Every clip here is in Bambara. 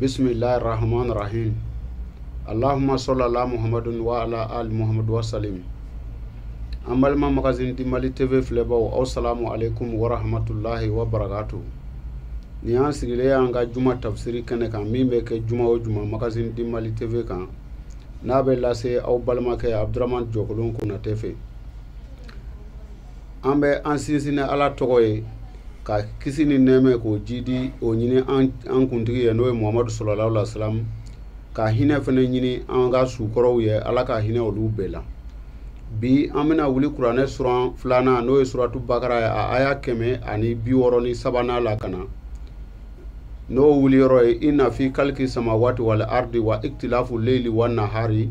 bisimilahi rahman rahim alahuma sali ala muhammadu wa ala ali muhammadu wa salim an balima magazine du mali tv filɛbaw aw salamu aleykum wa rahmatulahi wa barakatu nin y'an sigilen y'an ka juma tafsiri kɛnɛ kan min bɛ kɛ juma o juma magazine du mali tv kan n'a bɛ lase aw balimakɛ abdurahman jɔkolon konatɛ fɛ an bɛ an sinsin ni ala tɔgɔ ye ka kisi ni nɛɛma k'o jidi o ɲini an kuntigi ye n'o ye muhamadu salalahu aleyhi wa salam ka hinɛ fana ɲini an ka su kɔrɔw ye ala ka hinɛ olu bɛɛ la bi an bɛna wuli kuranɛ suran filanan n'o ye suratu bakara ye a aya kɛmɛ ani bi wɔɔrɔ ni sabanan la ka na n'o wuli yɔrɔ ye ina fi kaliki samawati wal ardi wa iktilafu leyili wa nahari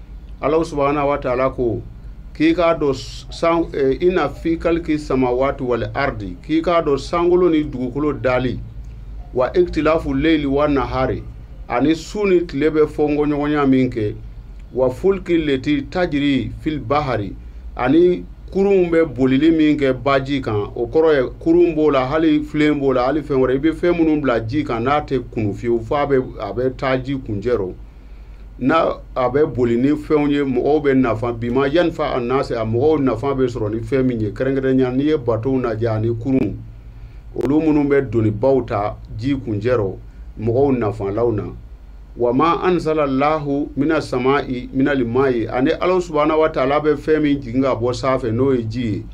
ala subahana wa taala ko k'i k'a dɔn san eh, ina fi kaliki samawati wal ardi k'i k'a dɔn sankolo ni dugukolo dali wa iktilafu leili wa nahari ani su ni tile bɛ fɔnkɔɲɔgɔnya min kɛ wa fulki leti tajiri fil bahari ani kurunw bɛ bolili min kɛ baji kan o kɔrɔ ye kurun b'o la hali filen b'o la hali fɛn wɛrɛ i bɛ fɛn minnu bila ji kan n'a tɛ kunu fiyewu f'a bɛ a bɛ taa ji kuncɛ rɔ n' a bɛ boli ni fɛnw ye mɔgɔw bɛ nafa bima yanfa anasa a mɔgɔw nafa bɛ sɔrɔ ni fɛn min ye kɛrɛnkɛrɛnya n'i ye batow lajɛ ani kurunw olu minnu bɛ donibaw ta ji kuncɛ rɔ mɔgɔw nafalaw na wa ma anzala lahu mina samai minal mai ani ala subahana wa taala bɛ fɛn min jigin ka bɔ sanfɛ n'o ye ji ye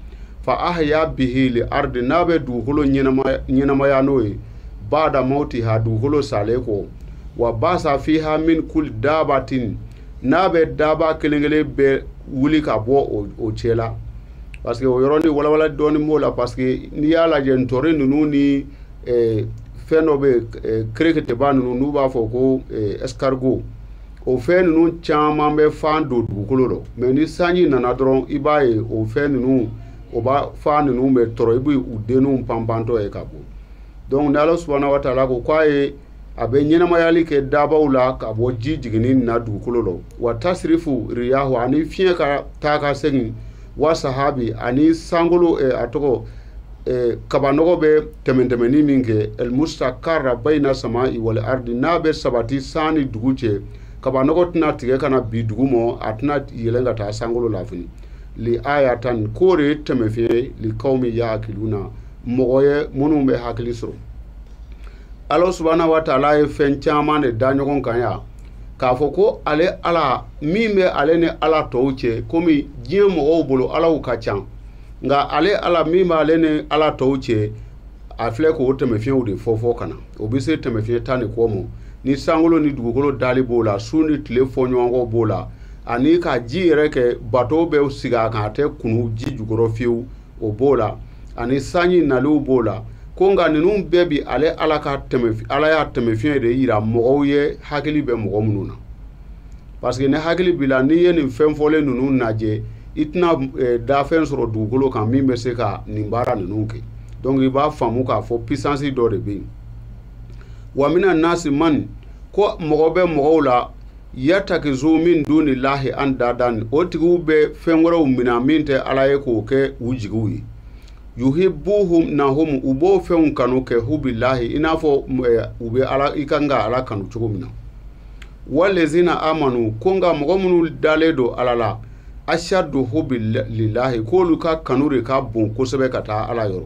fa ahya bihil arda n'a bɛ dugukolo ɲɛnamaya n'o ye baada mawtiha dugukolo salen kɔ wa basa fiha min kuli dabatin n'a bɛ daba kelen kelen bɛɛ wuli ka bɔ o cɛ la parce que o yɔrɔnin walawala dɔɔni b'o la parce que n'i y'a lajɛ ntɔri ninnu ni eh, fɛn dɔ bɛ yen eh, kɛrɛkɛtɛba ninnu n'u b'a fɔ ko eh, escargot o fɛn ninnu caman bɛ fan don dugukolo rɔ mais ni sanji nana dɔrɔn i b'a ye o fɛn ninnu o ba fan ninnu bɛ tɔrɔ i b'u denninw panpantɔ ye ka bɔ donc ni ala subahana wa taala ko k'a ye a bɛ ɲɛnamayali kɛ dabaw la ka bɔ ji jiginni na dugukolo la wa tasirifu riyah ani fiɲɛ ka taa ka segin wa sahabi ani sankolo a tɔgɔ eh, kabanɔgɔ bɛ tɛmɛn tɛmɛnni min kɛ el musakari bayina samai wal ardi n'a bɛ sabati san ni dugu cɛ kabanɔgɔ tɛna tigɛ ka na bin dugu ma a tɛna yɛlɛn ka taa sankolo la fɛnɛ li ayatan k'o de ye taamasiyɛn li kawmin yakiluna mɔgɔw ye minnu bɛ hakili sɔrɔ ala subahana wa taala ye fɛn caman de da ɲɔgɔn kan yan k'a fɔ ko ale ala min bɛ ale ni ala tɔw cɛ komi diɲɛ mɔgɔw bolo alaw ka ca nka ale ala min b'ale ni ala tɔw cɛ a filɛ k'o tɛmɛfiɲɛw de fɔ fɔ ka na o bɛ se tɛmɛfiɲɛ tan ni kɔ ma ni sankolo ni dugukolo dali b'o la su ni tile fɔɲɔgɔnkɔ b'o la ani ka ji yɛrɛ kɛ bato bɛ sigi a kan a tɛ kunu ji jukɔrɔ fiyewu o b'o la ani sanji naliw b'o la ko nka ninnu bɛɛ bi ale ala ka tɛmɛ ala y'a tɛmɛfiɲɛ de yira mɔgɔw ye hakili bɛ mɔgɔ minnu na parce que ni hakili b'i la n'i ye nin fɛn fɔlen ninnu lajɛ i tɛna eh, danfɛn sɔrɔ dugukolo kan min bɛ se ka nin baara ninnu kɛ donc i b'a faamu k'a fɔ puissance dɔ de bɛ yen wa mina nasi man ko mɔgɔ bɛ mɔgɔw la yatakizu min duni lahi andadan o tigiw bɛ fɛn wɛrɛw mina min tɛ ala ye k'o kɛ u jigiw ye yuhibuhum nahum u b'o fɛnw kanu kɛ hubilahi i n'a fɔ eh, u bɛ ala i kan ka ala kanu cogo min na walezina amanu ko nka mɔgɔ minnu dalen don ala la ashadu hubililahi k'olu ka kanu de ka bon kosɛbɛ ka taa ala yɔrɔ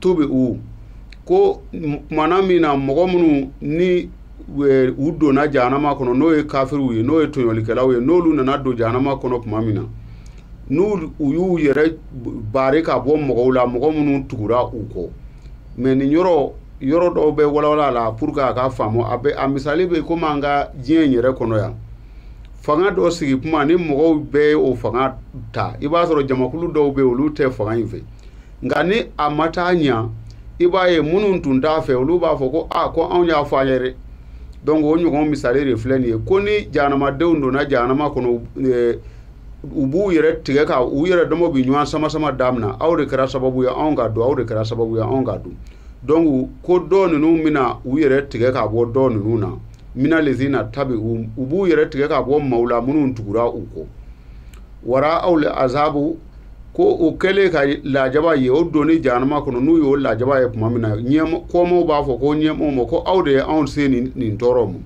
tubi'u ko tuma min na mɔgɔ minnu ni u donna jahanama kɔnɔ n'o ye kafiriw ye n'o ye tɔɲɔlikɛlaw ye n'olu nana don jahanama kɔnɔ tuma min na n' u y'u yɛrɛ bari ka bɔ mɔgɔw la mɔgɔ minnu tugura u kɔ mais nin yɔrɔ yɔrɔ dɔw bɛ walawala pour que a ka faamu a bɛ a misali bɛ komi an ka diɲɛ in yɛrɛ kɔnɔ yan fanga dɔ sigi kuma ni mɔgɔw bɛɛ ye o fanga ta i b'a sɔrɔ jamakulu dɔw bɛ olu tɛ fanga in fɛ nka ni a ma taa ɲa i b'a ye minnu tun t'a fɛ olu b'a fɔ ko a ko anw y'a fɔ aw ye dɛ donc o ɲɔgɔn misali de filɛ nin ye ko ni jahanamadenw donna jahanama kɔnɔ eh, u b'u yɛrɛ tigɛ ka u yɛrɛ dama bi ɲɔgɔn sama sama damina aw de kɛra sababu ye anw ka don aw de kɛra sababu ye anw ka don donc ko dɔ ninnu bɛna u yɛrɛ tigɛ ka bɔ dɔ ninnu na mina lezina tabi u b'u yɛrɛ tigɛ ka bɔ maaw la minnu tugura u kɔ wara aw le azabu ko o kɛlen ka lajaba ye o donni jahanama kɔnɔ n'u y'o lajaba ye tuma min na kɔmaaw b'a fɔ ko ɲɛmaaw ma ko aw de ye anw se nin tɔɔrɔ ma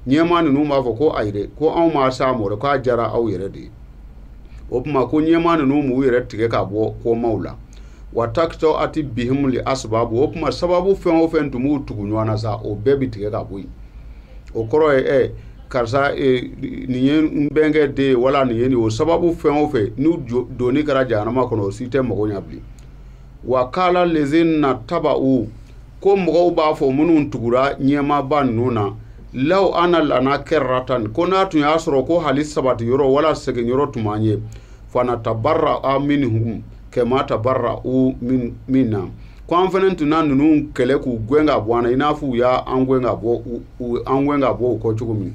ɲɛmaa ninnu b'a fɔ ko ayi dɛ ko anw m'aw s'a ma dɛ k'a diyara aw yɛrɛ de ye o tuma ko ɲɛmaa ninnu b'u yɛrɛ tigɛ ka bɔ kɔmaaw la wa takata'ati bihimu li asababu o tuma sababu fɛn o fɛn tun b'u tugu ɲɔgɔn na sa o bɛɛ bɛ tigɛ ka bɔ yen o kɔrɔ ye ɛ karisa e, nin ye n bɛnkɛ den ye wala nin ye nin o sababu fɛn o fɛn n'u donni kɛra jahanama kɔnɔ o si tɛ mɔgɔ ɲɛ bilen wa kala lezina taba'u ko mɔgɔw b'a fɔ minnu tugura ɲɛmaaba ninnu na law ana lana kɛratan ko n'a tun y'a sɔrɔ ko hali sabati yɔrɔ wala segin yɔrɔ tun b'an ye fanatabarra'a minhum kɛma tabarra'u minna ko an fana tun na ninnu kɛlɛ k'u gɛn ka bɔ an na i n'a fɔ u y'an gɛn ka bɔ u kɔ cogo min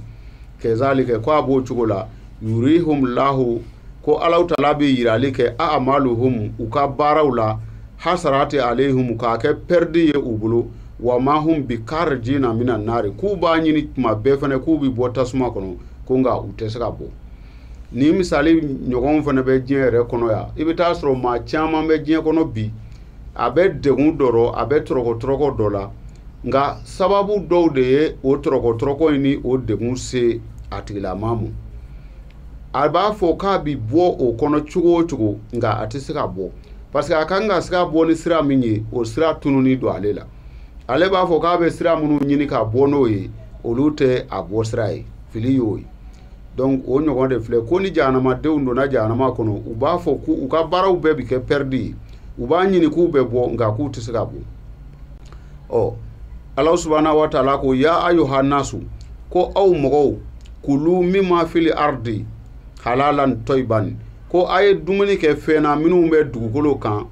kɛzalikɛ ko a b'o cogo la yurihum lahu ko alahu taala bɛ yirali kɛ a amaluhum u ka baaraw la hasarati alehum k'a kɛ pɛridi ye u bolo wa ma hum bi karjina mina nari k'u b'a ɲini tuma bɛɛ fana k'u bɛ bɔ tasuma kɔnɔ ko nka u tɛ se ka bɔ nin misali ɲɔgɔn fana bɛ diɲɛ yɛrɛ kɔnɔ yan i bɛ taa sɔrɔ maa caman bɛ diɲɛ kɔnɔ bi a bɛ degun dɔ rɔ a bɛ tɔrɔkɔtɔrɔkɔ dɔ la nka sababu dɔw de ye o tɔrɔkɔtɔrɔkɔ in ni o degun se a tigilama ma a b'a fɔ k'a bi bɔ o kɔnɔ cogo o cogo nka a tɛ se ka bɔ parce que a kan ka se ka bɔ ni sira min ye o sira tununi don ale la ale b'a fɔ k'a bɛ sira minnu ɲini ka bɔ n'o ye olu tɛ a bɔ sira ye fili y'o ye donc o ɲɔgɔn de filɛ ko ni jahanamadenw donna jahanama kɔnɔ u b'a fɔ ko u ka baaraw bɛɛ bɛ kɛ pɛridi ye u b'a ɲini k'u bɛ bɔ nka k'u tɛ se ka bɔ ɔ ala subhanahu wa taala ko ya ayuha nasu ko aw mɔgɔw kulu mima fili aradi halalan tɔyiban ko a ye dumuni kɛ fɛn na minnu bɛ dugukolo kan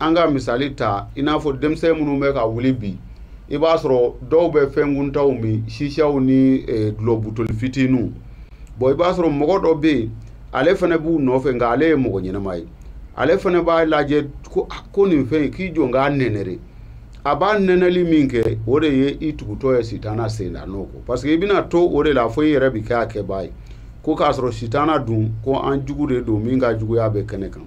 an ka misali ta i n'a fɔ denmisɛn minnu bɛ ka wuli bi i b'a sɔrɔ dɔw bɛ fɛn kuntanw min sisiyaw ni eh, dulɔ butoli fitininw bɔn i b'a sɔrɔ mɔgɔ dɔ bɛ yen ale fana b'u nɔfɛ nka ale ye mɔgɔ ɲɛnama ye ale fana b'a lajɛ ko ah, ko nin fɛn in k'i jɔ k'a nɛnɛ dɛ a b'a nɛnɛli min kɛ o de ye i tugutɔ ye sitana sen da nɔ kɔ parce que i bɛna to o de la fo i yɛrɛ bɛ kɛ a kɛbaa ye ko k'a sɔrɔ sitana dun ko an jugu de don min ka juguya bɛ kɛnɛ kan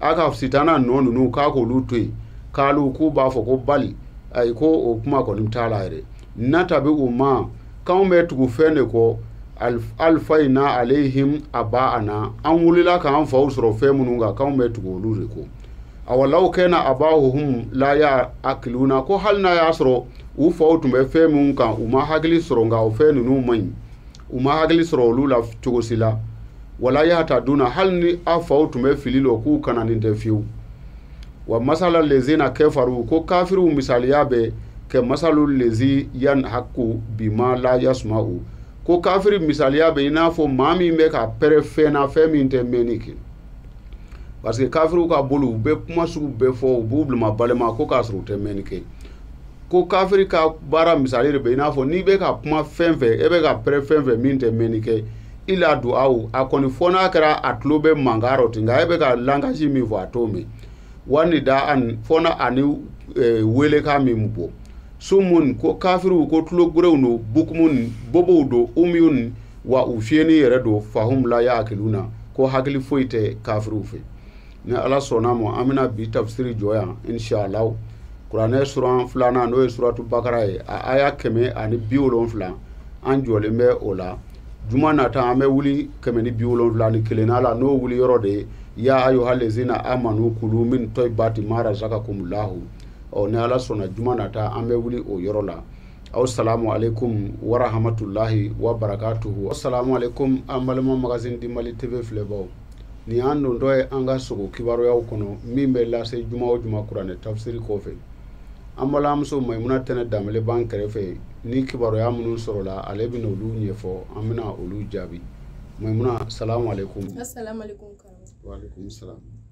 a ka sitana nɔ ninnu k'a k'olu to yen kalu k'u b'a fɔ ko bali ayi ko o kuma kɔni t'a la yɛrɛ natabi'u ma k'anw bɛ tugu fɛn de kɔ alifayina alehim abaana an wulila k'an faw sɔrɔ fɛn minnu kan k'anw bɛ tugu olu de kɔ awalaw kɛna abahuhum la yaakiluna ko hali n'a y'a sɔrɔ u faw tun bɛ fɛn minnu kan u ma hakili sɔrɔ nka o fɛn ninnu man ɲi u ma hakili sɔrɔ olu la cogosi la wala yahtaduna hali ni a faw tun bɛ fili lɔ k'u kananin tɛ fiyewu wa masalu lezina kɛfaru ko kafiriw misaliya bɛ kɛmasalu lezi yanhaku bi ma la yasuma'u ko kafiri misaliya bɛ i n'a fɔ maa min bɛ ka pɛrɛ fɛn na fɛn min tɛ mɛnni kɛ parce que kafiriw ka bolo u bɛ kuma sugu bɛɛ fɔ u b'u bilama balima ko k'a sɔrɔ u tɛ mɛnni kɛ ko kafiri ka baara misali de bɛ i n'a fɔ n'i bɛ ka kuma fɛn fɛ e bɛ ka pɛrɛ fɛn fɛ min tɛ mɛnni kɛ ila du'a a kɔni fo n'a kɛra a tulo bɛ mankan rɔ ten nka e bɛ ka langage min fɔ a t'o mɛn wa nida'an fɔ na ani e, weelekan min bɔ sumun ko kafiriw ko tulogerenw don bukumun bobow don umiyun wa u fiyɛni yɛrɛ don fahum la yaakiluna ko hakili foyi tɛ kafiriw fɛ ni ala sɔnna a ma an bɛna bi tafisiri jɔ yan inshallahu kuranɛ sura filanan n'o ye suratu bakara ye a aya kɛmɛ ani bi wolonwula an jɔlen bɛ o la juma nata an bɛ wuli kɛmɛ ni bi wolonwula ni kelennan la n'o wuli yɔrɔ de ye ya ayuhal lezina amanu kulu min tɔyibati ma razaka kumulahu ɔ ni ala sɔnna juma nata an bɛ wuli o yɔrɔ la aw salamu aleykum warahamatulahi wa barakatuhu aw salamu aleykum an balima magazine du mali tv filɛbaaw nin y'an dontɔ ye an ka sogo kibaruyaw kɔnɔ min bɛ lase juma o juma kuranɛ tafsiri kɔfɛ an balimamuso mayimuna tɛnɛ danbele b'an kɛrɛfɛ ni kibaruya minnu sɔrɔla ale bɛna olu ɲɛfɔ an bɛna olu jaabi mayimuna salamu aleykum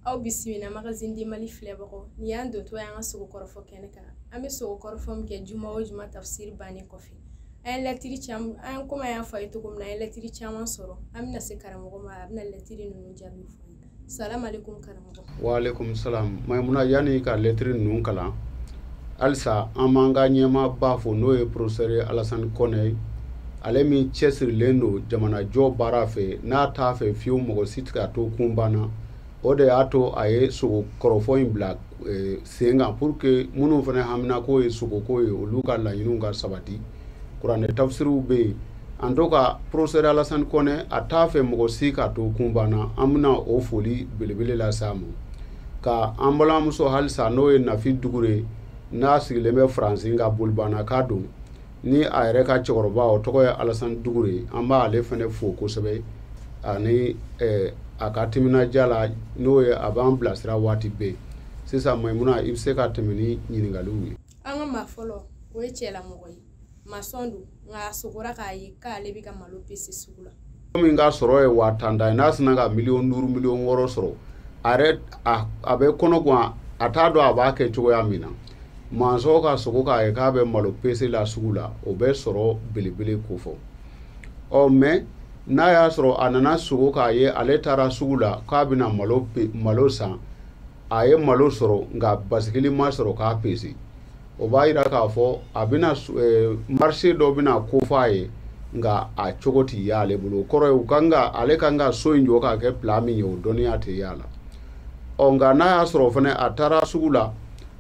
aw bisimila magazine du mali filɛbagaw nin y'an dontɔ ye an ka sogo kɔrɔfɔ kɛnɛ kan an bɛ sogo kɔrɔfɔ min kɛ juma o juma tafsiri bannen kɔfɛ an ye lɛtiri caman an ye komi an y'a fɔ a ye cogo min na an ye lɛtiri caman sɔrɔ an bɛna se karamɔgɔ ma a bɛna lɛtiri ninnu jaabi fɔ an ye salamalekun karamɔgɔ waaleykum salam mayimuna yanni ka lɛtiri ninnu kalan halisa an b'an ka ɲɛmaaba fo n'o ye professeur alasani kɔnɛ ye ale min cɛsirilen don jamanajɔ baara fɛ n'a t'a fɛ fiyewu mɔgɔ si tɛ ka to kunpan na o de y'a to a ye sogo kɔrɔfɔ in bila eh, sen kan pour que minnu fana haminako ye sogoko ye olu ka laɲiniw ka sabati kuranɛ tafsiriw bɛ yen en tout cas professeur alasani kɔnɛ a t'a fɛ mɔgɔ si ka to kunpan na an bɛna o foli belebele lase a ma ka an balimamuso halisa n'o ye nafi dugure n'a sigilen bɛ faransi nka bolibanaka don ni a yɛrɛ ka cɛkɔrɔba o tɔgɔ ye alasan dugure an b'ale fana fo kosɛbɛ ani a ka timinandiya la n'o ye a b'an bilasira waati bɛɛ sisan mayimuna i bɛ se ka tɛmɛ ni ɲininkakaliw ye an ka maa fɔlɔ o ye cɛlamɔgɔ ye masɔn don nka a sogora k'a ye k'ale bɛ ka malo pese sugu la min ka sɔrɔ ye waa tan de ye n'a sinna ka miliyɔn duuru miliyɔn wɔɔrɔ sɔrɔ a yɛrɛ a bɛ kɔnɔgan a t'a dɔn a b'a kɛ cogoya min na masɔn ka sogo k'a ye k'a bɛ malo pese la sugu la o bɛ sɔrɔ belebele kofɔ ɔ mais n'a y'a sɔrɔ a nana sogo k'a ye ale taara sugu la k'a bɛna malo malo san a ye malo sɔrɔ nka basikili ma sɔrɔ k'a pese o b'a jira k'a fɔ a bɛna eh, marché dɔ bɛna kofɔ a ye nka a cogo tɛ ye ale bolo o kɔrɔ ye u kan ka ale kan ka so in jɔ k'a kɛ plan min ye o dɔnniya tɛ ye a la ɔ nka n'a y'a sɔrɔ fana a taara sugu la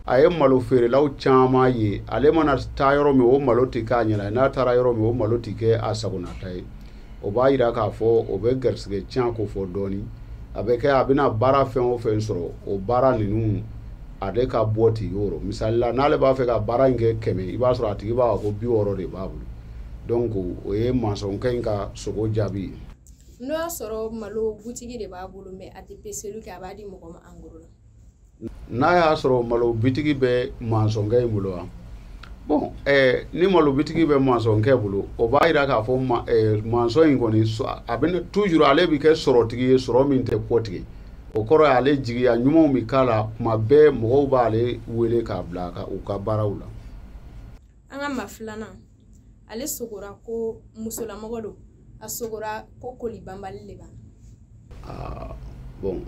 a ye malo feerelaw caman ye ale mana taa yɔrɔ min o malo tɛ k'a ɲɛna n'a taara yɔrɔ min o malo tɛ kɛ a sagonata ye o b'a jira k'a fɔ o bɛ garisɛgɛ tiɲɛ kofɔ dɔɔnin a bɛ kɛ a bɛna baara fɛn o fɛn sɔrɔ o baara ninnu ale ka bɔ tɛ yɔrɔ misali la n'ale b'a fɛ ka baara in kɛ kɛmɛ i b'a sɔrɔ a tigi b'a fɔ ko bi wɔɔrɔ de b'a bolo donc o ye masɔnkɛ in ka sogo jaabi ye n'o y'a sɔrɔ malo butigi de b'a bolo mais a tɛ peseli kɛ a b'a di mɔgɔ ma en gros la n'a y'a sɔrɔ malo bitigi bɛ mansɔnkɛ in bolo wa bon eh, ni malo bitigi bɛ mansɔnkɛ bolo o b'a jira k'a fɔ ma, eh, mansɔn in kɔni a bɛ toujours ale bɛ kɛ sɔrɔtigi ye sɔrɔ min tɛ kɔtigɛ o kɔrɔ ye ale jigiya ɲumanw bɛ k'a la kuma bɛɛ mɔgɔw b'ale wele k'a bila ka, u ka baaraw la an ka maa filanan ale sogora ko musolamɔgɔ don a sogora ko koli banbali le b'a la bon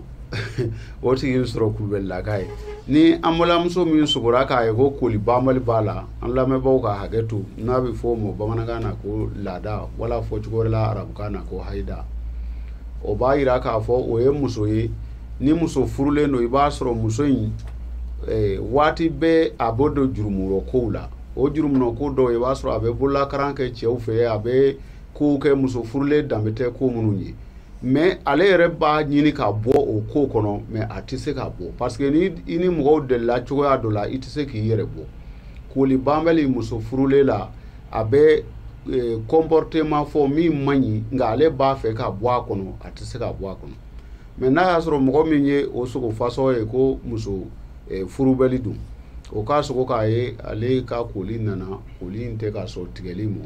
o tigi bɛ sɔrɔ kulubalilaka ye ni an balimamuso min sogora k'a ye ko koli banbali b'a la an lamɛnbaaw ka hakɛ to n'a bɛ fɔ o ma bamanankan na ko laada wala fɔcogo wɛrɛ la arabukan na ko hayida o b'a yira k'a fɔ o ye muso ye ni muso furulen don i b'a sɔrɔ muso in eh, waati bɛɛ a b'o don jurumurɔ kow la o jurumurɔ ko dɔw ye i b'a sɔrɔ a bɛ bololakaran kɛ cɛw fɛ a bɛ kow kɛ muso furulen danbe tɛ ko minnu ye mais ale yɛrɛ b'a ɲini ka bɔ o ko kɔnɔ mais a tɛ se ka bɔ parce que ni i ni mɔgɔw delila cogoya dɔ la i tɛ se k'i yɛrɛ bɔ koli banbali muso furulen la a bɛ eh, comportement fɔ min man ɲi nka ale b'a fɛ ka bɔ a kɔnɔ a tɛ se ka bɔ a kɔnɔ mais n'a y'a sɔrɔ mɔgɔ min ye o sogo fasɔ ye ko muso eh, furubɛli don o ka sogo k'a ye ale ka koli nana koli in tɛ ka sɔn tigɛli ma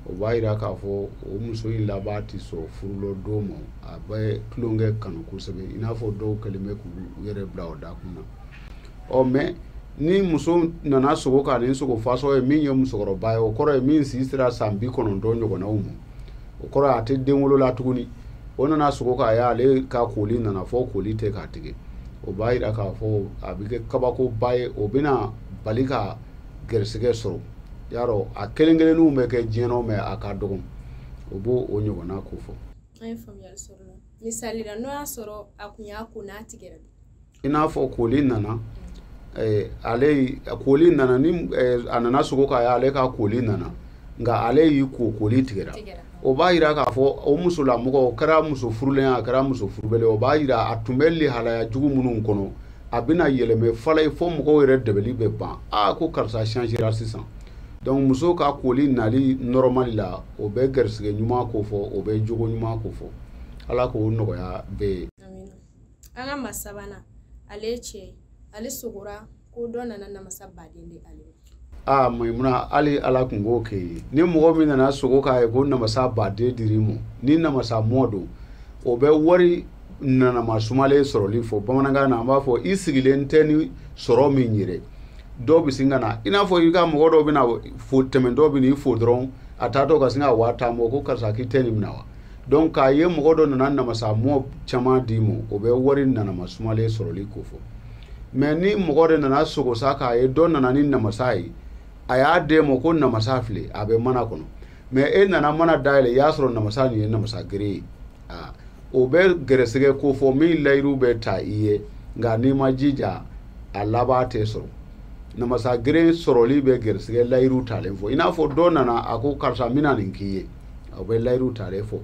o b'a yira k'a fɔ o muso in laban tɛ sɔn furulɔ don ma a bɛ tulonkɛ kanu kosɛbɛ i n'a fɔ dɔw kɛlen bɛ k'u yɛrɛ bila o dakun na ɔ mais ni muso nana sogo ka nin sogo fasɔ ye min ye musokɔrɔba ye o kɔrɔ ye min si sera san bi kɔnɔntɔn ɲɔgɔnnaw ma o kɔrɔ a tɛ denwolo la tuguni o nana sogo k'a ye ale ka koli nana fɔ koli tɛ ka tigɛ o b'a jira k'a fɔ a bɛ kɛ kabakoba ye o bɛna bali ka gɛrɛsɛgɛ sɔrɔ y'a dɔn a kelen kelenninw bɛ kɛ diɲɛ na mais a ka dɔgɔn o b'o o ɲɔgɔnna kofɔ an ye faamuyali sɔrɔ misali la n'o y'a sɔrɔ a kun y'a ko n'a tigɛra i n'a fɔ koli nana eh, ale koli nana ni eh, a nana sogo k'a ye ale ka koli nana nka ale y'i ko koli tigɛra o b'a yira k'a fɔ o musolamɔgɔ o kɛra muso furulen a kɛra muso furubɛli o b'a yira a tun bɛ lihalaya jugu minnu kɔnɔ a bɛna yɛlɛmɛ fɔlɔ ye fo mɔgɔw yɛrɛ dɛbɛli bɛ ban aa ko karisa changera sisan donc muso ka koli nali normal la o bɛ garisigɛ ɲuman kofɔ o bɛ jogo ɲuman kofɔ ala k'o nɔgɔya bɛɛ ye an ka maa sabanan ale ye cɛ ye ale sogora ko dɔ nana namasa baden di ale ma aa maimuna hali ala tun k'o kɛ ye ni mɔgɔ min nana sogo k'a ye ko namasa baden dir'i ma ni namasa mɔ don o bɛ wari nanama sumalen sɔrɔli fɔ bamanankan na an b'a fɔ i sigilen tɛ ni sɔrɔ min yɛrɛ dɔw bɛ sin ka na i n'a fɔ i ka mɔgɔ dɔw bɛ na fo tɛmɛntɔ bɛ n'i fo dɔrɔn a taatɔ ka sin ka waa tan bɔ ko karisa k'i tɛ nin minɛ wa donc k'a ye mɔgɔ dɔ nana namasa mɔ caman d'i ma o bɛ wari nanama sumalen sɔrɔli ko fɔ mais ni mɔgɔ de nana sogo sa k'a ye dɔ nana ni namasa ye a y'a d'e ma ko namasa filɛ a bɛ mana kɔnɔ mais e nana mana dayɛlɛn i y'a sɔrɔ namasa nin ye namasa gere ye aa o bɛ gɛrɛsɛgɛ ko fɔ min layiru bɛ ta i ye nka n'i ma jija a laban tɛ sɔrɔ namasa gere sɔrɔli bɛ gɛrɛsɛgɛ layiru talen fɔ i n'a fɔ dɔ nana a ko karisa n bɛna nin k'i ye o bɛ layiru talen fɔ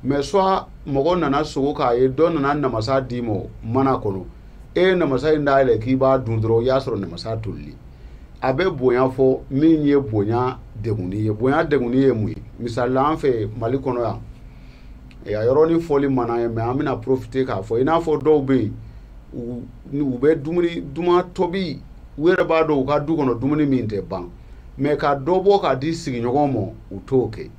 mais soit mɔgɔ nana sogo k'a ye dɔ nana namasa d'i ma mana kɔnɔ e ye namasa in dayɛlɛ k'i b'a dun dɔrɔn i y'a sɔrɔ namasa toli a bɛ bonya fɔ min ye bonya degunni ye bonya degunni ye mun ye misali la an fɛ mali kɔnɔ yan a yɔrɔnin fɔli mana ye mais an bɛna profiter k'a fɔ i n'a fɔ dɔw bɛ yen u bɛ dumuni duman tobi u yɛrɛ b'a dɔn u ka du kɔnɔ dumuni min tɛ ban mais ka dɔ bɔ k'a di sigiɲɔgɔn ma u t'o kɛ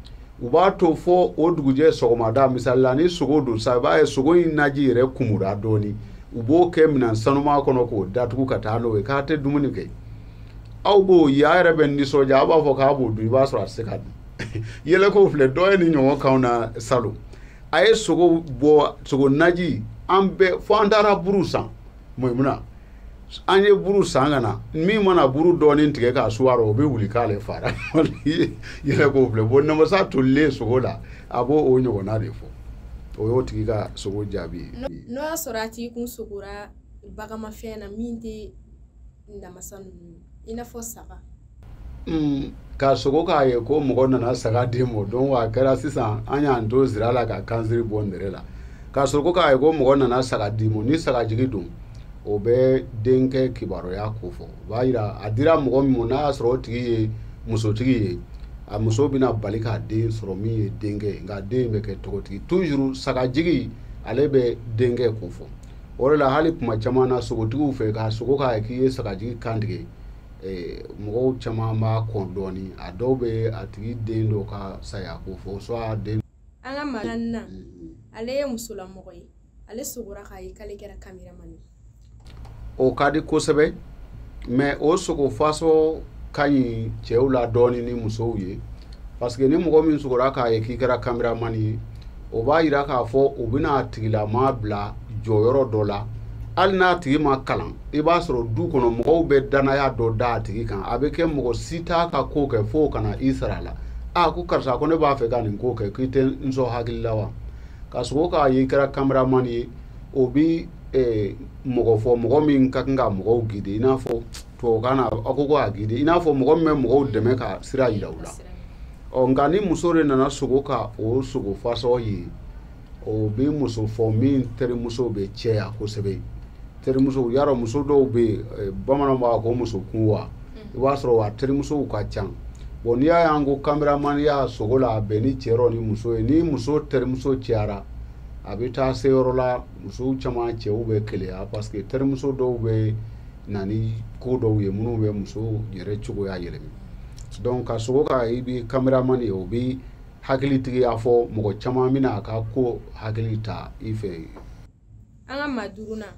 u b'a to fɔ o dugujɛ sɔgɔmada misali la ni sogo don sa i b'a ye sogo in naji yɛrɛ kumura dɔɔni u b'o kɛ minɛn sanuma kɔnɔ k'o datugu ka taa n'o ye k'a tɛ dumuni kɛ aw b'o ye a yɛrɛ bɛ nisɔndiya a b'a fɔ k'a b'o dun i b'a sɔrɔ a tɛ se ka dun yɛlɛko filɛ dɔ ye nin ɲɔgɔn k'anw na salon a ye sogo bɔ sogo naji an bɛɛ fo an taara buru san maimuna an ye buru san ka na min mana buru dɔɔni tigɛ k'a su a ra o bɛ wuli k'ale fara yɛlɛko filɛ bon namasa tolilen sogo la a b'o o ɲɔgɔnna de fɔ o y'o tigi ka sogo jaabi ye. n'o y'a sɔrɔ a tigi kun sogora baganmafɛn na min tɛ namasa ninnu ye. i n'a fɔ saga hmm, ka sogo k'a ye ko mɔgɔ nana saga di mɔ donc a kɛra sisan an y'an to zira la ka kansiri bɔ nɛrɛ la ka sogo k'a ye ko mɔgɔ nana saga di mɔ ni saga jigi don o bɛ denkɛ kibaruya ko fɔ o b'a yira a dira mɔgɔ min mɔ n'a y'a sɔrɔ o tigi ye musotigi ye a muso bɛna bali ka den sɔrɔ min ye denkɛ ye nka den bɛ kɛ tɔgɔtigi toujours sagajigi ale bɛ denkɛ ko fɔ o de la hali kuma caman na sogotigiw fɛ ka sogo k'a ye k'i ye sagajigi kantigɛ eh, mɔgɔw caman b'a kɔn dɔɔni a dɔw bɛ a tigi den dɔ ka saya ko fɔ soit den an ka maa na ale ye musolamɔgɔ ye ale sogora k'a ye k'ale kɛra cameraman ye o ka di kosɛbɛ mais o sogo fasɔ ka ɲi cɛw la dɔɔni ni musow ye parce que ni mɔgɔ min sogora k'a ye k'i kɛra kameramani ye o b'a yira k'a fɔ u bɛna a tigilamaa bila jɔyɔrɔ dɔ la hali n'a tigi ma kalan i b'a sɔrɔ du kɔnɔ mɔgɔw bɛ danaya dɔ da a tigi kan a bɛ kɛ mɔgɔ si t'a ka ko kɛ fo ka na i sara a la a ko karisa ko ne b'a fɛ ka nin ko kɛ k'i tɛ n sɔn hakili la wa ka sogo k'a ye i kɛra kameramani ye o bɛ mɔgɔ fɔ mɔgɔ min ka kan ka mɔgɔw gide i n'a fɔ tubabukan na a ko ko a gidi i n'a fɔ mɔgɔ min bɛ mɔgɔw dɛmɛ ka sira yira u la ɔ nka ni muso de nana sogo ka o sogo fasɔ ye o bɛ muso fɔ min terimuso bɛ caya kosɛbɛ terimuso y'a dɔn muso dɔw bɛ yen eh, bamananw b'a ko muso kun wa i b'a sɔrɔ a terimusow ka ca bɔn n'i y'a y'an ko kameramaniya sogo la a bɛn ni cɛ yɔrɔ ni muso ye ni muso terimuso cayara a bɛ taa se yɔrɔ la musow caman cɛw bɛ keleya parce que terimuso dɔw bɛ na ni ko dɔw ye minnu bɛ muso yɛrɛ cogoya yɛlɛma dɔnku ka sogo ka i bɛ kameramani ye o bɛ hakilitigiya fɔ mɔgɔ caman bɛna a ka ko hakili ta i fɛ an ka maa duurunan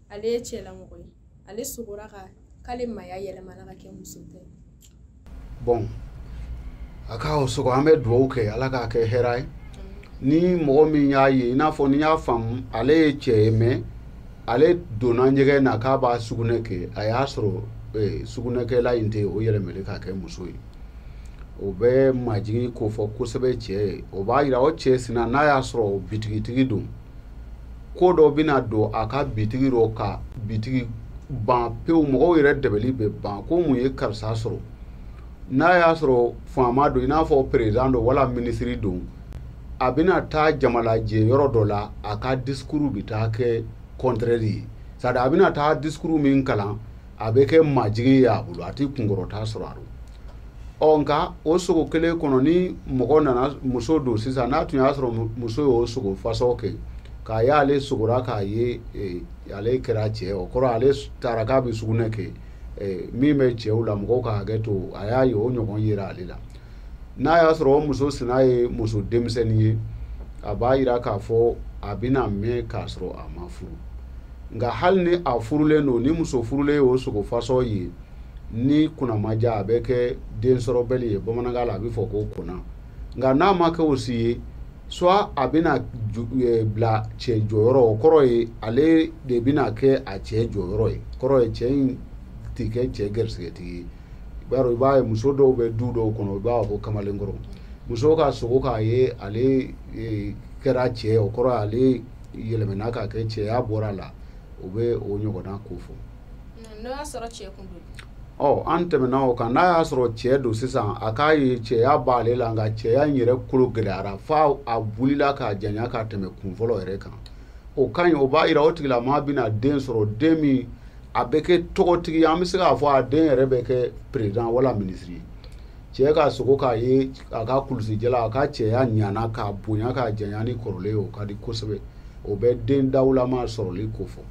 ale ye cɛlamɔgɔ ye ale sogora ka k'ale maaya yɛlɛmana ka kɛ muso ta ye bɔn a ka o sogo an bɛ dugawu kɛ ala k'a kɛ hɛra ye ni mɔgɔ min y'a ye i n'a fɔ n'i y'a faamu ale ye cɛ ye mɛ ale donna ɲɛgɛn na k'a b'a sugunɛ kɛ a y'a sɔrɔ eh, sugunɛkɛlan in tɛ o yɛlɛmalen k'a kɛ muso ye o bɛ majigin ko fɔ kosɛbɛ cɛ ye o b'a yira o cɛ sina n'a y'a sɔrɔ o bitigitigi don ko dɔ bɛna don a ka bitigi dɔ ka bitigi ban pewu mɔgɔw yɛrɛ dɛbɛli bɛ ban ko mun ye karisa sɔrɔ n'a y'a sɔrɔ faama don i n'a fɔ peresidan don wala minisiri don a bɛna taa jamalajɛ yɔrɔ dɔ la a ka disikuru bɛ taa kɛ kɔntrɛri ye c'est-à-dire a bɛna taa disikuru min kalan a bɛ kɛ majigin ye a bolo a tɛ kunkɔrɔta sɔrɔ a rɔ ɔ nka o sogo kelen kɔnɔ ni mɔgɔ nana muso don sisan n'a tun y'a sɔrɔ muso y'o sogo fasɔ kɛ k'a y'ale sogora k'a ye e, ale kɛra cɛ o kɔrɔ ale taara k'a bɛ sugunɛ kɛ e, min bɛ cɛw la mɔgɔw ka hakɛ to a y'a ye o ɲɔgɔn yera ale la n'a y'a sɔrɔ o muso sina ye muso denmisɛnnin ye a b'a yira k'a fɔ a bɛna mɛn k'a sɔrɔ a ma furu nka hali ni a furulen don ni muso furulen y'o sogo fasɔ ye ni kunna ma diya a bɛ kɛ densɔrɔbali ye bamanankan la a bɛ fɔ ko kona nka n'a ma kɛ o si ye soit a bɛna eh, bila cɛ jɔyɔrɔ o kɔrɔ ye ale de bɛna kɛ a cɛ jɔyɔrɔ ye kɔrɔ ye cɛ in tɛ kɛ cɛ garisigɛtigi ye i b'a dɔn i b'a ye muso dɔw bɛ du dɔw kɔnɔ i b'a fɔ ko kamalenkɔrɔ muso ka sogo k'a ye ale e, kɛra cɛ o kɔrɔ ale yɛlɛmɛna ka kɛ cɛya bɔra a la o bɛ o ɲɔgɔnna kofɔ n'o y'a sɔrɔ cɛ kun don ɔ an tɛmɛna o kan n'a y'a sɔrɔ cɛ don sisan a k'a ye cɛya b'ale la nka cɛya in yɛrɛ kolo gɛlɛyara fo a wulila ka janya ka tɛmɛ kun fɔlɔ yɛrɛ kan o ka ɲi o b'a jira o tigilamaa bɛna den sɔrɔ den min a bɛ kɛ tɔgɔtigi an bɛ se k'a fɔ a den yɛrɛ bɛ kɛ perezidan wala minisiri ye cɛ ka sogo k'a ye a ka kulusijala a ka cɛya ɲana ka bonya ka janya ni kɔrɔlen ye o ka di kosɛbɛ o bɛ den dawulama sɔrɔli kofɔ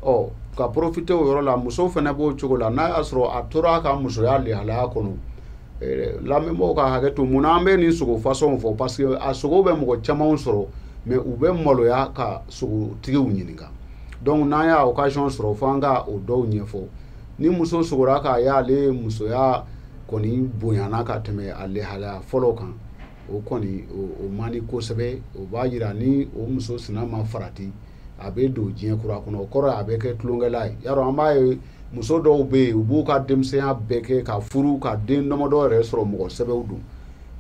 ɔ ka porofite o yɔrɔ la muso fana b'o cogo la n'a y'a sɔrɔ a tora a ka musoya lehalaya kɔnɔ eh, lamɛnbaaw ka hakɛ to mun na an bɛ nin sogo fasɔnw fɔ parce que a sogo bɛ mɔgɔ camanw sɔrɔ mais u bɛ maloya ka sogotigiw ɲininka donc n'an y'a occasion sɔrɔ fo an ka o dɔw ɲɛfɔ ni muso sogora k'a ye ale musoya kɔni bonyana ka tɛmɛ a lehalaya fɔlɔ kan o kɔni o man di kosɛbɛ o b'a jira ni o muso sina ma farati a bɛ don diɲɛ kura kɔnɔ o kɔrɔ a bɛ kɛ tulonkɛla ye y'a an b'a ye muso dɔw bɛ yen u b'u ka denmisɛnya bɛɛ kɛ ka furu ka den damadɔ yɛrɛ sɔrɔ mɔgɔ sɛbɛw don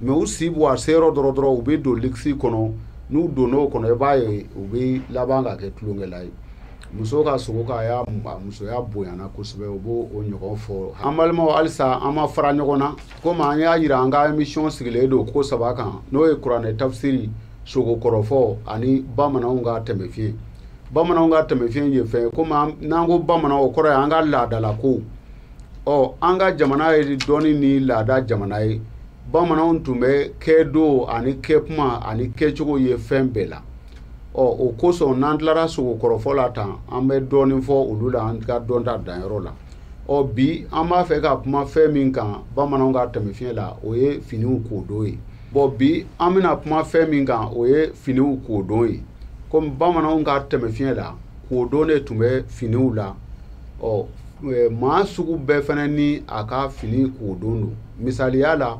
mais u si baa se yɔrɔ dɔ rɔ dɔrɔn u bɛ don luxe kɔnɔ n'u donn'o kɔnɔ i b'a ye u bɛ laban ka kɛ tulonkɛla ye muso ka sogo k'a y'a musoya bonyana kosɛbɛ o b'o ɲɔgɔn fɔ an balimaw halisa an ma fara ɲɔgɔn na komi an y'a jira an ka emisiyɔn sigilen don ko saba kan n'o ye kuranɛ tafsiri sogo kɔrɔfɔ ani bamananw ka tɛmɛfiɲɛ bamananw ka tɛmɛfiɲɛ ye fɛn ye komi n'an ko bamanan o kɔrɔ ye an ka laadalakow ɔ an ka jamana ye dɔnni ni laada jamana ye bamananw tun bɛ kɛdon ani kɛkuma ani kɛcogo ye fɛn bɛɛ la ɔ o kosɔn n'an tilara sogo kɔrɔfɔ la tan an bɛ dɔɔni fɔ olu la an ka dɔnta danyɔrɔ la ɔ bi an b'a fɛ ka kuma fɛn min kan bamananw ka tɛmɛfiɲɛ la o ye finiw kodon ye bɔn bi an bɛna kuma fɛn min kan o ye finiw kodon ye komi bamananw ka tɛmɛfiɲɛ la kodon de tun bɛ finiw la ɔ e, maa sugu bɛɛ fana ni a ka fini kodon don misaliya la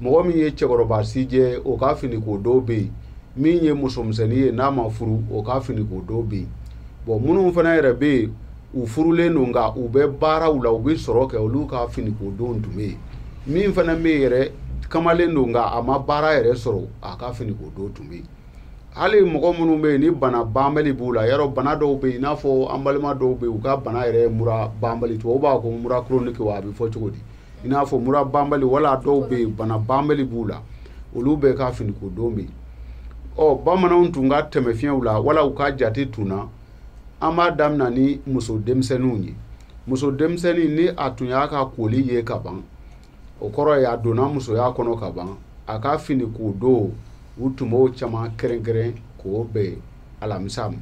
mɔgɔ min ye cɛkɔrɔba sijɛ o ka fini kodon bɛ yen min ye musomisɛnnin ye n'a ma furu o ka fini kodon bɛ yen bɔn minnu fana yɛrɛ bɛ yen u furulen don nka u bɛ baaraw la u bɛ sɔrɔ kɛ olu ka fini kodon tun bɛ yen min fana bɛ yen yɛrɛ kamalen don nka a ma baara yɛrɛ sɔrɔ a ka fini kodon tun bɛ yen hali mɔgɔ minnu bɛ yen ni bana banbali b'u la yɔrɔ bana dɔw bɛ yen i n'a fɔ an balima dɔw bɛ yen u ka bana yɛrɛ ye mura banbali tubabu b'a ko mura chronique wa a bɛ fɔ cogo di i n'a fɔ mura banbali wala dɔw bɛ yen bana banbali b'u la olu bɛɛ ka fini kodon bɛ yen ɔ bamananw tun ka tɛmɛfiɲɛw la wala u ka jate tun na an b'a daminɛ ni muso denmisɛnninw ye muso denmisɛnnin ni a tun y'a ka koli ye ka ban o kɔrɔ ye a donna musoya kɔnɔ ka ban a ka fini ko don u tun b'o caman kɛrɛnkɛrɛn k'o bɛn alamisa ma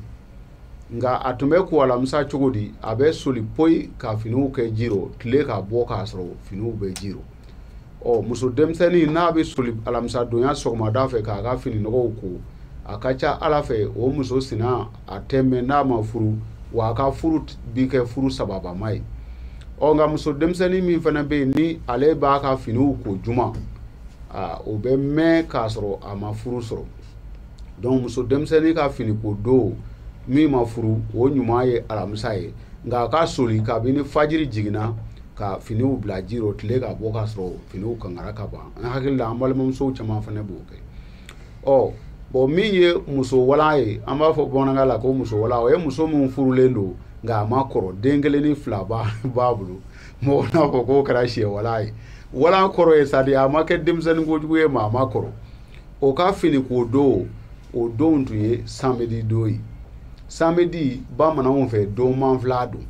nka a tun bɛ ko alamisa cogo di a bɛ soli poyi ka finiw kɛ ji rɔ tile ka bɔ k'a sɔrɔ finiw bɛ ji rɔ ɔ muso denmisɛnnin n'a bɛ soli alamisadonya sɔgɔmada fɛ k'a ka fini nɔgɔw ko a ka ca ala fɛ o muso sina a tɛ mɛn n'a ma furu wa a ka furu bi kɛ furu sababuma ye ɔ nka muso denmisɛnnin min fana bɛ yen ni ale b'a ka finiw ko juma aa o bɛ mɛn k'a sɔrɔ a ma furu sɔrɔ donc muso denmisɛnnin ka fini ko don min ma furu o ɲuman ye alamisa ye nka a ka soli kabini fajiri jiginna ka finiw bila ji rɔ tile ka bɔ k'a sɔrɔ finiw kangara ka ban an hakili la an balimamusow caman fana b'o kɛ ɔ bon min ye muso wala ye an b'a fɔ bamanankan la ko muso wala o ye muso min furulen don nka a ma kɔrɔ den kelen ni fila b'a bolo mɔgɔ n'a fɔ k'o kɛra sɛ wala ye wala kɔrɔ ye c'est-à-dire a ma kɛ denmisɛnnin kojugu ye mais a ma kɔrɔ o ka fini ko don o don tun ye samedi don ye samedi bamananw fɛ don manfila don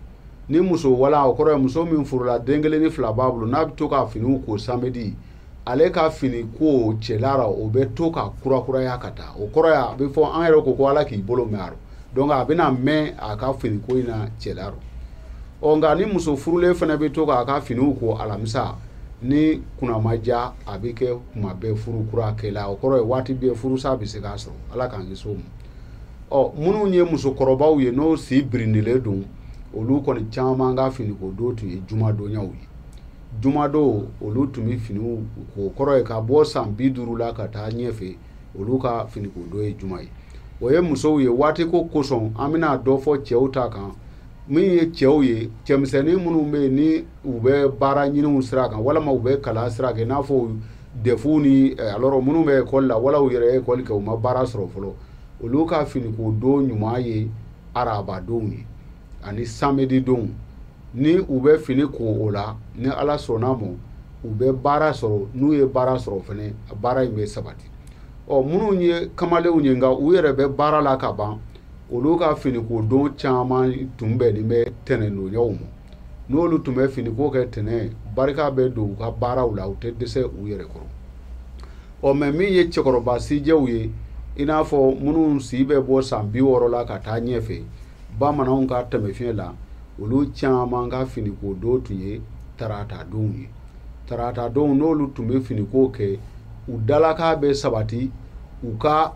ni muso wala o kɔrɔ ye muso min furula den kelen ni fila b'a bolo n'a bɛ to ka finiw ko samedi ale ka fini ko cɛla rɔ o bɛ to ka kurakuraya ka taa o kɔrɔ ye a bɛ fɔ an yɛrɛ ko ko ala k'i bolo mɛn a rɔ donc a bɛna mɛn a ka fini ko in na cɛla rɔ nka ni muso furulen fana bɛ to k'a ka finiw ko alamisa n'i kunna ma diya a bɛ kɛ kuma bɛɛ furu kura kɛla o kɔrɔ ye waati bɛɛ furusa bɛ se k'a sɔrɔ ala k'an kisi o ma ɔ minnu ye musokɔrɔbaw ye n'o si birindilen don olu kɔni caman ka finiko don tun ye jumadonyaw ye jumadon olu tun bɛ finiw ko o kɔrɔ ye ka bɔ san bi duuru la ka taa ɲɛfɛ olu ka finiko don ye juma ye o ye musow ye waati ko kosɔn an bɛna dɔ fɔ cɛw ta kan min ye cɛw ye cɛmisɛnnin minnu bɛ yen ni u bɛ baara ɲiniw sira kan walima u bɛ kalan sira kan i n'a fɔ defu ni eh, alors minnu bɛ ekɔli la wala u yɛrɛ ye ekɔli kɛ u ma baara sɔrɔ fɔlɔ olu ka finiko don ɲuman ye arabadonw ye ani samedi donw ni u bɛ fini ko o la ni ala sɔnna a ma u bɛ baara sɔrɔ n'u ye baara sɔrɔ fɛnɛ baara in bɛ sabati ɔ minnu ye kamalenw ye nka u yɛrɛ bɛ baara la ka ban olu ka finiko don caman tun bɛnnen bɛ tɛnɛndonyaw ma n'olu tun bɛ fini ko kɛ tɛnɛn barika bɛ don u ka baaraw la u tɛ dɛsɛ u yɛrɛ kɔrɔ ɔ mais min ye cɛkɔrɔba sijɛw ye i n'a fɔ minnu si bɛ bɔ san bi wɔɔrɔ la ka taa ɲɛfɛ bamananw ka taamasiyɛn la olu caman ka finiko don tun ye tarata donw ye tarata donw n'olu tun bɛ finiko kɛ u dalaka bɛ sabati u ka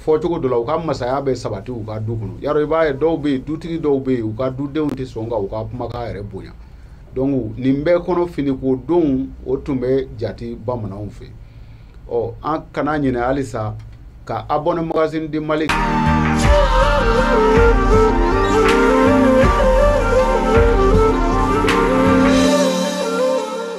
fɔcogo dɔ la u ka masaya bɛ sabati u ka du kɔnɔ yala i b'a ye dɔw bɛ yen dutigi dɔw bɛ yen u ka dudenw tɛ sɔn ka u ka kumakan yɛrɛ bonya donc nin bɛɛ kɔnɔ fini ko don o tun bɛ jate bamananw fɛ ɔ an kana ɲinɛ halisa ka abonné magazine du mali